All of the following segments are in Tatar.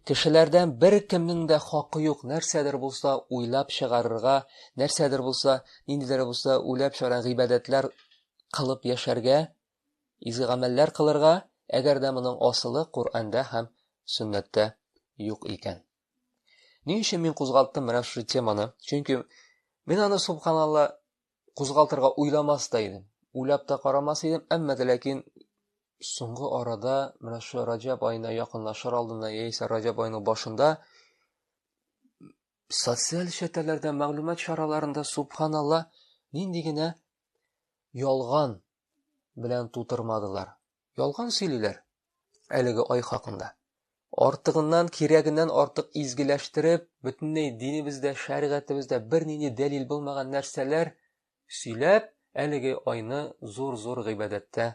Кешеләрдән беркемнең дә хакы юк нәрсәдер булса уйлап чыгарырга, нәрсәдер булса, ниндидер булса үләп чара гыйбадәтләр кылып яшәргә, изге гамәлләр кылырга, әгәр дә моның асылы Коръәндә һәм сөннәттә юк икән. Ни өчен мин кузгалттым менә шушы теманы? Чөнки мин аны субханалла кузгалтырга уйламас та идем. Уйлап та карамас идем, әмма дә ләкин соңгы арада менә шул Раҗаб аена якынлашыр алдында яисә Раҗаб аеның башында социаль челтәрләрдә, мәгълүмат чараларында субханалла нинди генә ялган белән тутырмадылар. Ялган сөйлиләр әлеге ай хакында. Артыгыннан, кирәгеннән артык изгеләштереп, бөтенләй динебездә, шәригатебездә бернинди дәлил булмаган нәрсәләр сөйләп, әлеге айны зур-зур гыйбадәттә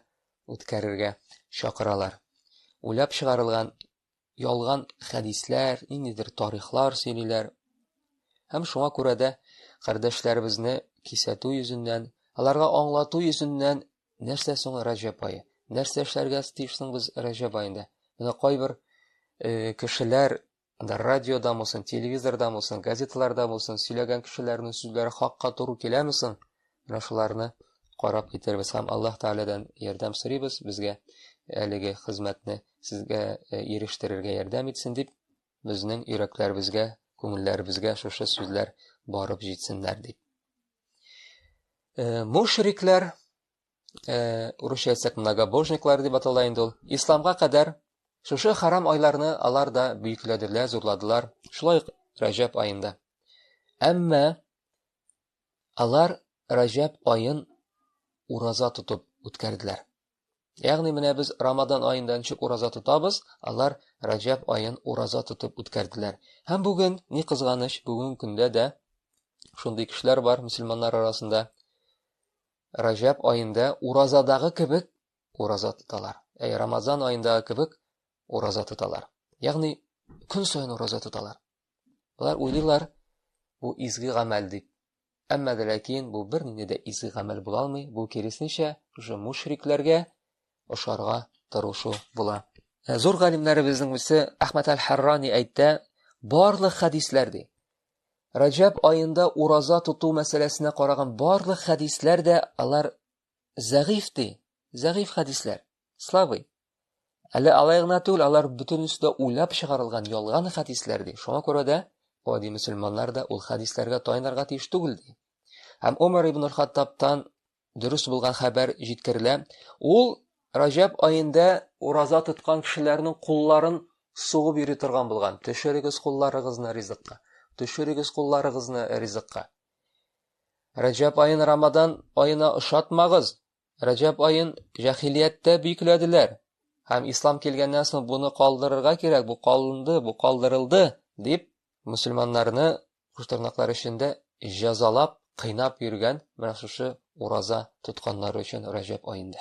үткәрергә чакыралар. Уйлап чыгарылган ялган хәдисләр, ниндидер тарихлар сөйлиләр. Һәм шуңа күрә дә кардәшләребезне кисәтү йөзеннән, аларга аңлату йөзеннән нәрсә соң Рәҗәб айы? Нәрсә эшләргә тиешсең без Рәҗәб айында? Менә кайбер э, кешеләр да радиода булсын, телевизорда булсын, газеталарда булсын сөйләгән кешеләрнең сүзләре хакка туры киләме соң? Менә шуларны карап китербез һәм Аллаһ Тәгаләдән ярдәм сорыйбыз, безгә әлеге хезмәтне сезгә э, ирештерергә ярдәм итсен дип, безнең йөрәкләребезгә, күңелләребезгә шушы сүзләр барып җитсеннәр дип. Э, мушриклар, э, урысча әйтсәк, многобожниклар дип атала инде ул, исламга кадәр шушы харам айларны алар да бөекләделәр, зурладылар, шулай ук Рәҗәб аенда. Әмма Алар Раҗәб аен ураза тотып үткәрделәр. Ягъни менә без Рамадан аенда ничек ураза тотабыз, алар Раҗәб аен ураза тотып үткәрделәр. Һәм бүген, ни кызганыч, бүген көндә дә шундый кешеләр бар мөселманнар арасында. Раҗәб аенда уразадагы кебек ураза тоталар. Әй Рамазан аендагы кебек ураза тоталар. Ягъни көн саен ураза тоталар. Алар уйлыйлар, бу изге гамәл дип. Әмма дә ләкин бу бернинди дә изге гамәл була алмый, бу киресенчә, шушы мушрикләргә ошарга тырышу була. Ә зур галимнәребезнең берсе Әхмәд әл-Харрани әйтә, барлык хәдисләр ди. Раҗаб аенда ураза тоту мәсьәләсенә караган барлык хәдисләр дә алар Зәгыйф ди. Зәгыйф хәдисләр. Слабый. Әле алай гына түгел, алар бөтенесе дә уйлап чыгарылган ялган хәдисләр ди. Шуңа күрә дә гади мөселманнар да ул хәдисләргә таянырга тиеш түгел ди. Һәм Умар ибн Хаттабтан дөрес булган хәбәр җиткерелә. Ул Раҗаб аенда ураза тоткан кешеләрнең кулларын сугып йөри торган булган. Төшерегез кулларыгызны ризыкка. Төшерегез кулларыгызны ризыкка. Рәҗәп аен Рамадан аена ошатмагыз. Рәҗәп аен җәхилияттә бикләделәр. Һәм ислам килгәннән соң буны калдырырга кирәк, бу калынды, бу калдырылды, дип мөселманнарны куштырнаклар эчендә җәзалап, кыйнап йөргән менә шушы ураза тотканнары өчен Рәҗәп аенда.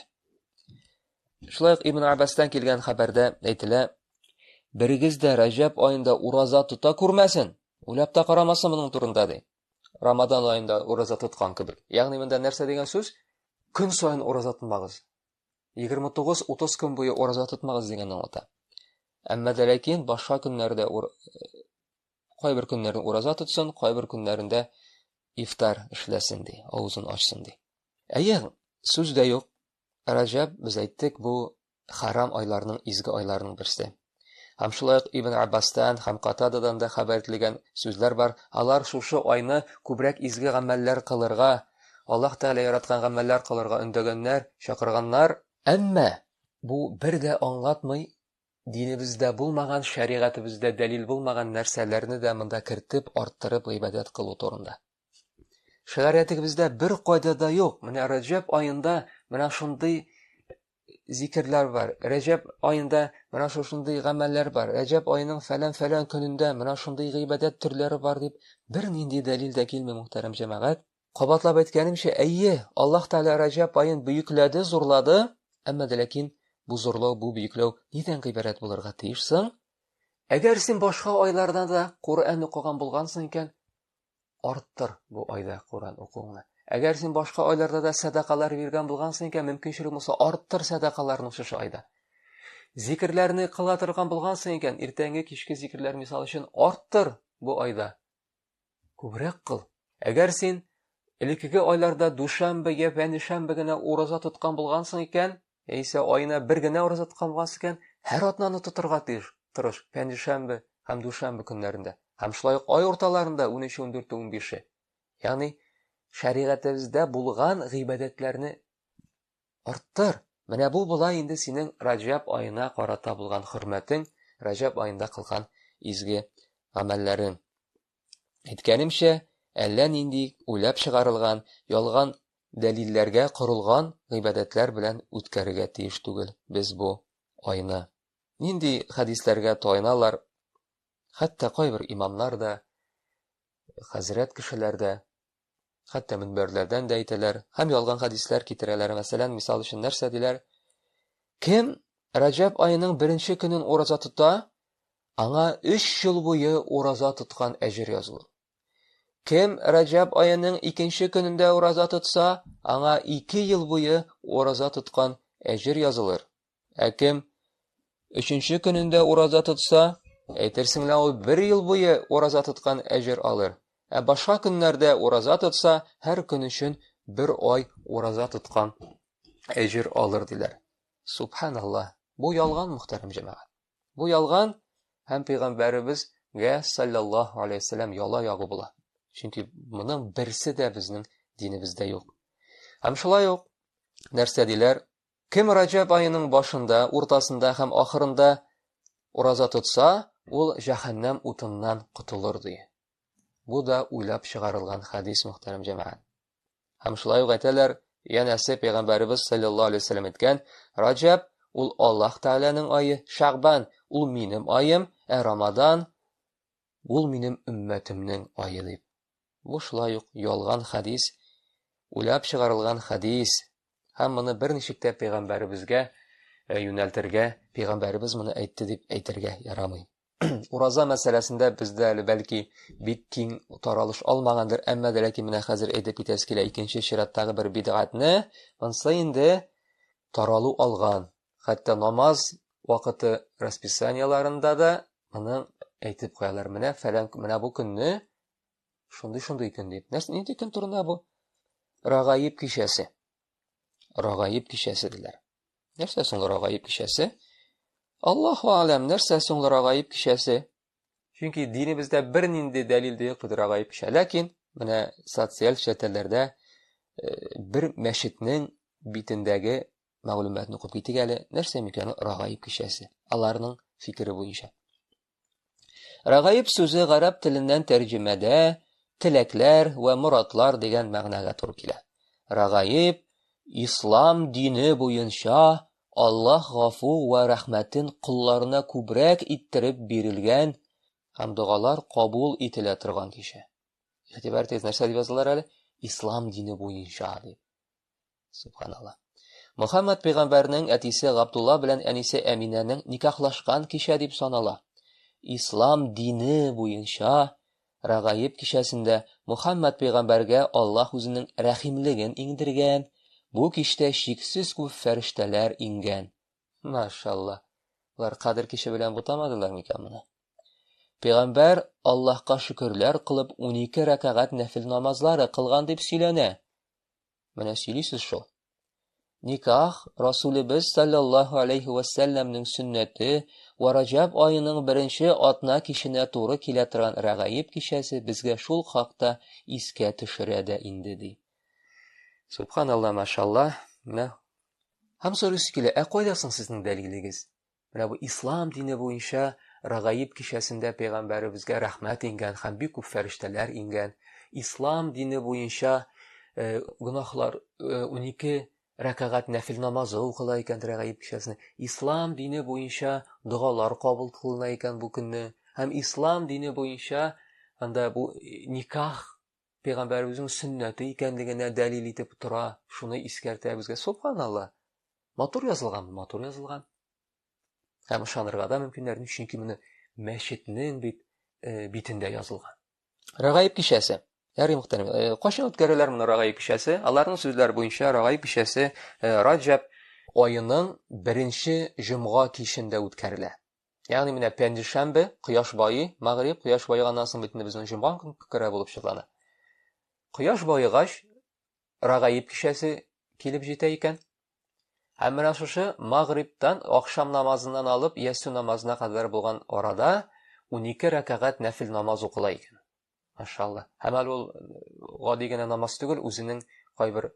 Шулай ук Ибн Аббастан килгән хәбәрдә әйтелә, Берегез дә Рәҗәп аенда ураза тота күрмәсен, Уйлап та карамасын моның турында, ди. Рамадан аенда ураза тоткан кебек. Ягъни монда нәрсә дигән сүз? Көн саен ураза тотмагыз. 29-30 көн буе ураза тотмагыз дигән аңлата. Әмма дә ләкин башка көннәрдә ур... кайбер көннәрен ураза тотсын, кайбер көннәрендә ифтар эшләсен ди, авызын ачсын ди. Әйе, сүз дә юк. Раҗаб без әйттек, бу Харам айларның изге айларының берсе. Һәм шулай ук Ибн Аббастан һәм Катададан да хәбәр ителгән сүзләр бар. Алар шушы айны күбрәк изге гамәлләр кылырга, Аллаһ Тәгалә яраткан гамәлләр кылырга өндәгәннәр, чакырганнар. Әмма бу бер дә аңлатмый, динебездә булмаган, шәригатебездә дәлил булмаган нәрсәләрне дә монда кертеп, арттырып гыйбадәт кылу турында. Шәригатебездә бер кайда да юк. Менә Раҗәб аенда менә шундый зикерләр бар. Рәҗәб аенда менә шушындый гамәлләр бар. Рәҗәб аеның фәлән-фәлән көнендә менә шундый гыйбадәт төрләре бар дип бер нинди дәлил дә килми, мөхтәрәм җәмәгать. Кабатлап әйткәнемчә, әйе, Аллаһ Тәгалә Рәҗәб аен бөекләде, зурлады, әмма дә ләкин бу зурлау, бу бөекләү нидән гыйбарәт булырга тиеш соң? Әгәр син башка айларда да Коръән укыган булгансың икән, арттыр бу айда Коръән укуыңны. Әгәр син башка айларда да сәдакалар биргән булгансың икән, мөмкинчелек булса, арттыр сәдакаларны шушы айда. Зикерләрне кыла торган булгансың икән, иртәнге кичке зикерләр мисал өчен арттыр бу айда. Күбрәк кыл. Әгәр син элеккеге айларда дүшәмбе я пәнишәмбе генә ураза тоткан булгансың икән, Яисә аена бер генә ураза тотканлас икән, һәр атнаны тотырга тиеш. Тырыш, пәнҗешәмбе һәм дүшәмбе көннәрендә. Һәм шулай ук ай урталарында 13, 14, 15. Ягъни шәригатебездә булган гыйбадәтләрне арттыр. Менә бу була инде синең Раҗаб аена карата булган хөрмәтең, Раҗаб аенда кылган изге гамәлләрең. Әйткәнемчә, әллә нинди уйлап чыгарылган, ялган дәлилләргә корылган гыйбадәтләр белән үткәрергә тиеш түгел без бу айны. Нинди хәдисләргә таяналар, хәтта кайбер имамнар да, хәзрәт кешеләр дә, Хәтта мөнбәрләрдән дә әйтәләр һәм ялган хәдисләр китерәләр, мәсәлән, мисал өчен нәрсә диләр? Кем Раҗәб аеның беренче көнен ураза тота, аңа өч ел буе ураза тоткан әҗер язылыр. Кем Раҗәб аеның икенче көнендә ураза тотса, аңа ике ел буе ураза тоткан әҗер язылыр. Ә кем өченче көнендә ураза тотса, әйтерсең лә ул бер ел буе ураза тоткан әҗер алыр. Ә башка көннәрдә ураза тотса, һәр көн өчен бер ай ураза тоткан әҗер алыр диләр. Субханаллаһ. Бу ялган, мөхтәрәм җәмәгать. Бу ялган һәм пәйгамбәребезгә саллаллаһу алейһи ва саллям яла ягу була. Чөнки моның берсе дә безнең динебездә юк. Һәм шулай ук нәрсә диләр? Кем Раҗәб аеның башында, уртасында һәм ахырында ураза тотса, ул җәһәннәм утыннан котылыр, ди. Бу да уйлап чыгарылган хәдис, мөхтәрәм җәмәгать. Һәм шулай ук әйтәләр, янәсе пәйгамбәребез саллаллаһу алейһи вәсәлләм әйткән, Раҗәб ул Аллаһ Тәгаләнең ае, Шәгъбан ул минем аем, ә Рамадан ул минем өммәтемнең ае дип. Бу шулай ук ялган хәдис, уйлап чыгарылган хәдис, һәм моны берничек тә пәйгамбәребезгә юнәлтергә, пәйгамбәребез моны әйтте дип әйтергә ярамый. Ураза мәсьәләсендә бездә әле бәлки бик киң таралыш алмагандыр, әмма дә ләкин менә хәзер әйтеп китәсе килә икенче чираттагы бер бидгатьне, монысы инде таралу алган. Хәтта намаз вакыты расписаниеларында да моны әйтеп куялар. Менә фәлән, менә бу көнне Шундый шундый көн дип. Нәрсә нинди көн турында бу? Рагаиб кичәсе. Рагаиб кичәсе диләр. Нәрсә соң рагаиб кичәсе? Аллаһу алам, нәрсә соң рагаиб кичәсе? Чөнки динебездә бернинди дәлил дә юк бит рагаиб кичә. Ләкин менә социаль челтәрләрдә бер мәчетнең битендәге мәгълүматны укып китик әле. Нәрсә микән рагаиб кичәсе? Аларның фикере буенча. Рагаиб сүзе гарәп теленнән тәрҗемәдә теләкләр вә моратлар дигән мәгънәгә туры килә. Рагаиб ислам дине буенча Аллаһ гафу вә рәхмәтен кулларына күбрәк иттереп бирелгән һәм догалар кабул ителә торган кеше. Игътибар итегез, нәрсә дип язылар әле? Ислам дине буенча дип. Субханалла. Мөхәммәд пәйгамбәрнең әтисе Габдулла белән әнисе Әминәнең никахлашкан кичә дип санала. Ислам дине буенча Рагаиб кичәсендә Мөхәммәд пәйгамбәргә Аллаһ үзенең рәхимлеген иңдергән. Бу кичтә чиксез күп фәрештәләр иңгән. Машалла. Алар Кадер киче белән бутамадылар микән моны? Пәйгамбәр Аллаһка шөкерләр кылып 12 рәкәгать нәфил намазлары кылган дип сөйләнә. Менә сөйлисез шул. Никах Расулебез саллаллаху алейхи ва салламның сөннәте ва Раҗаб аеның беренче атна киченә туры килә торган Рәгаиб кичәсе безгә шул хакта искә төшерә дә инде ди. Субханалла, машалла. Менә. Һәм сорыйсы килә, ә кайда соң сезнең дәлилегез? Менә бу ислам дине буенча Рагаиб кичәсендә пәйгамбәребезгә рәхмәт ингән һәм бик күп фәрештәләр ингән. Ислам дине буенча э, гөнаһлар э, унике рәкәгать нәфил намазы укыла икән Рагаиб кичәсендә. Ислам дине буенча догалар кабул кылына икән бу көнне. Һәм ислам дине буенча анда бу э, никах пәйгамбәребезнең сөннәте икәнлегенә дәлил итеп тора, шуны искәртә безгә. Субханалла. Матур язылган, матур язылган. Һәм ышанырга да мөмкиннәр, чөнки моны мәчетнең бит э, битендә язылган. Рагаиб кичәсе. Ярый мөхтәрәм. Э, кайчан үткәрәләр моны Рагаиб кичәсе? Аларның сүзләре буенча Рагаиб кичәсе э, Раҗаб аеның беренче җомга кичендә үткәрелә. Ягъни менә пәнҗешәмбе кояш байый, мәгъриб кояш байыганнан соң бит инде безнең җомга көн күкрә булып чырлана. Кояш байыгач, Рагаиб кичәсе килеп җитә икән. Һәм менә шушы мәгърибтан ахшам намазыннан алып ясу намазына кадәр булган арада 12 рәкәгать нәфил намаз укыла икән. Машалла. Һәм әле ул гади генә намаз түгел, үзенең кайбер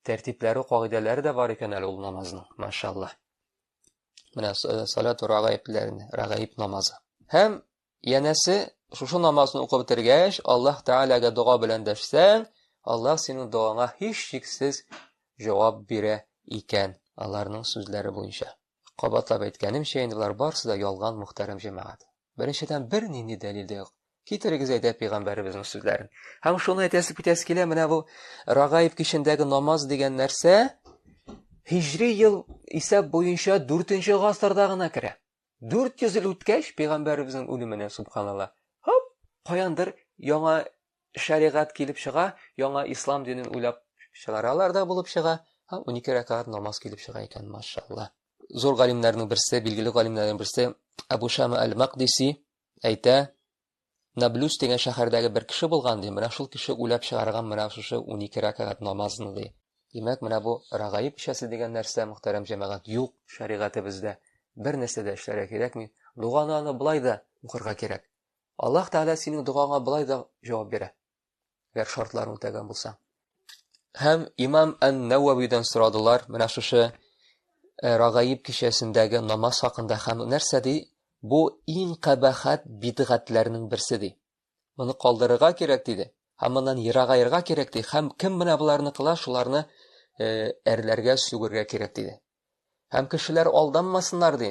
тәртипләре, кагыйдәләре дә бар икән әле ул намазның. Машалла. Менә э, салату рагаибләрне, рагаиб намазы. Һәм янәсе шушы намазны укып бетергәч, Аллаһ Тәгаләгә дога белән дәшсәң, Аллаһ синең догаңа һич шиксез җавап бирә икән, аларның сүзләре буенча. Кабатлап әйткәнемчә, инде болар барысы да ялган, мөхтәрәм җәмәгать. Беренчедән, бернинди дәлил дә юк. Китерегез әйдә пигамбәребезнең сүзләрен. Һәм шуны әйтәсе китәсе килә, менә бу Рагаиб кичендәге намаз дигән нәрсә һижри ел исәп буенча 4-нче гасырда гына керә. 400 ел үткәч, пигамбәребезнең үлеменә субханалла. Хоп, каяндыр яңа шәригать килеп чыга, яңа ислам динен уйлап чыгаралар да булып чыга. Һәм 12 рәкәгать намаз килеп чыга икән, машалла. зур галимнәрнең берсе, билгеле галимнәрнең берсе Абу Шама әл-Мақдиси әйтә, Наблюс дигән шәһәрдәге бер кеше булган, ди, менә шул кеше уйлап чыгарган менә шушы унике рәкәгать намазны, ди. Димәк, менә бу рагаиб эчәсе дигән нәрсә, мөхтәрәм җәмәгать, юк шәригатебездә. Бер нәрсә дә эшләргә кирәкми. Доганы аны былай да укырга кирәк. Аллаһ Тәгалә синең догаңа былай да җавап бирә. Гәр шартларын үтәгән булса. Һәм имам Ән-Нәвәвидән сорадылар, менә шушы э, Рагаиб кичәсендәге намаз хакында һәм нәрсә ди? Бу иң кабахат бидгатләрнең берсе ди. Моны калдырырга кирәк диде. Һәм моннан ерагаерга кирәк ди. Һәм кем менә боларны кыла, шуларны э, әрләргә, сүгергә кирәк диде. Һәм кешеләр алданмасыннар ди.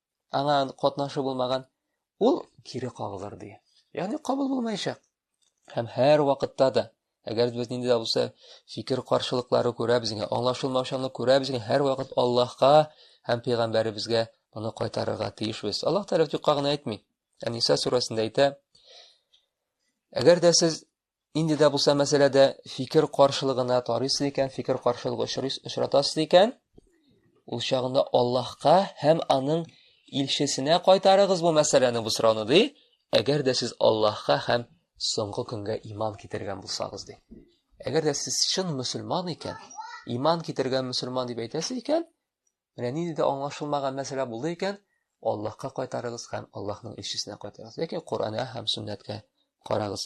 аңа катнашы булмаган, ул кире кагылыр ди. Ягъни кабул булмаячак. Һәм һәр вакытта да, әгәр без нинди дә булса фикер каршылыклары күрә безгә, аңлашылмаучанлык күрә безгә, һәр вакыт Аллаһка һәм пәйгамбәребезгә моны кайтарырга тиешбез. Аллаһ Тәгалә юкка гына әйтми. Әниса сүрәсендә әйтә, Әгәр дә сез Инде дә булса мәсьәләдә фикер каршылыгына тарыйсыз икән, фикер каршылыгы очрыйсыз, очратасыз икән, ул чагында Аллаһка һәм аның илчесенә кайтарыгыз бу мәсьәләне, бу сорауны ди. Әгәр дә сез Аллаһка һәм соңгы көнгә иман китергән булсагыз ди. Әгәр дә сез чын мөселман икән, иман китергән мөселман дип әйтәсез икән, менә нинди дә аңлашылмаган мәсьәлә булды икән, Аллаһка кайтарыгыз һәм Аллаһның илчесенә кайтарыгыз. Ләкин Коръәнгә һәм сөннәткә карагыз.